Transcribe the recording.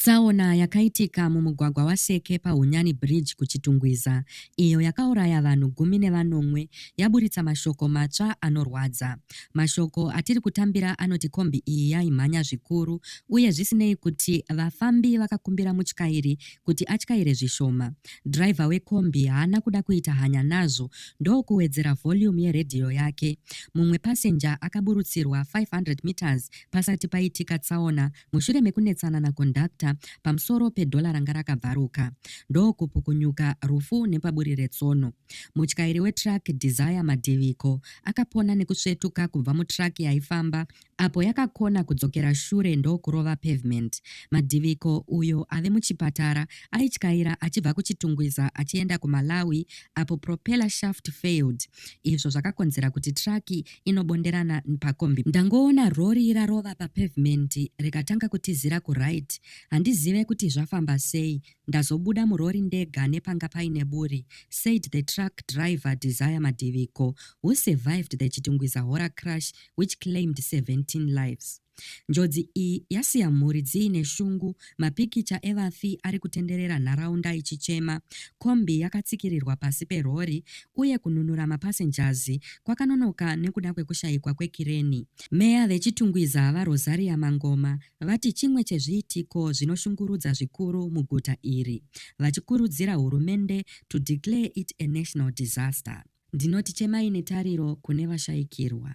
Tsaona yakaitika mumugwagwa waSeke paHunyani Bridge kuChitungwiza, iyo yakauraya vanhu gumi nevanomwe, yaburitsa mashoko matsva anorwadza. Mashoko atiri kutambira anoti kombi iyi yaimhanya zvikuru uye zvisinei kuti vafambi vakakumbira mutyairi kuti atyaire zvishoma, dhiraivha wekombi haana kuda kuita hanya nazvo ndokuwedzera volume yeredhiyo yake. Mumwe pasenja akaburutsirwa 500 meters pasati paitika tsaona mushure mekunetsana nakondakta pamusoro pedhora ranga rakabvaruka ndokupukunyuka rufu nepaburi retsono. Mutyairi wetruck Desire Madiviko akapona nekusvetuka kubva mutruck yaifamba apo yakakona kudzokera shure ndokurova pavement. Madiviko, uyo ave muchipatara, aityaira achibva kuChitungwiza achienda kuMalawi apo propeller shaft failed izvo zvakakonzera kuti truck inobonderana pakombi ndangoona rori rarova papavement rikatanga kutizira kuright handizive kuti zvafamba sei ndazobuda murori ndega nepanga paine buri said the truck driver Desire Madiviko who survived the Chitungwiza horror crash which claimed 17 lives. Njodzi iyi yasiya mhuri dziine shungu, mapikicha evafi ari kutenderera nharaunda ichichema, kombi yakatsikirirwa pasi perhori uye kununura mapasenjazi kwakanonoka nekuda kwekushayikwa kwekireni. Meya veChitungwiza, VaRosaria Mangoma, vati chimwe chezviitiko zvinoshungurudza zvikuru muguta iri, vachikurudzira hurumende to declare it a national disaster. Ndinoti chemai netariro kune vashayikirwa.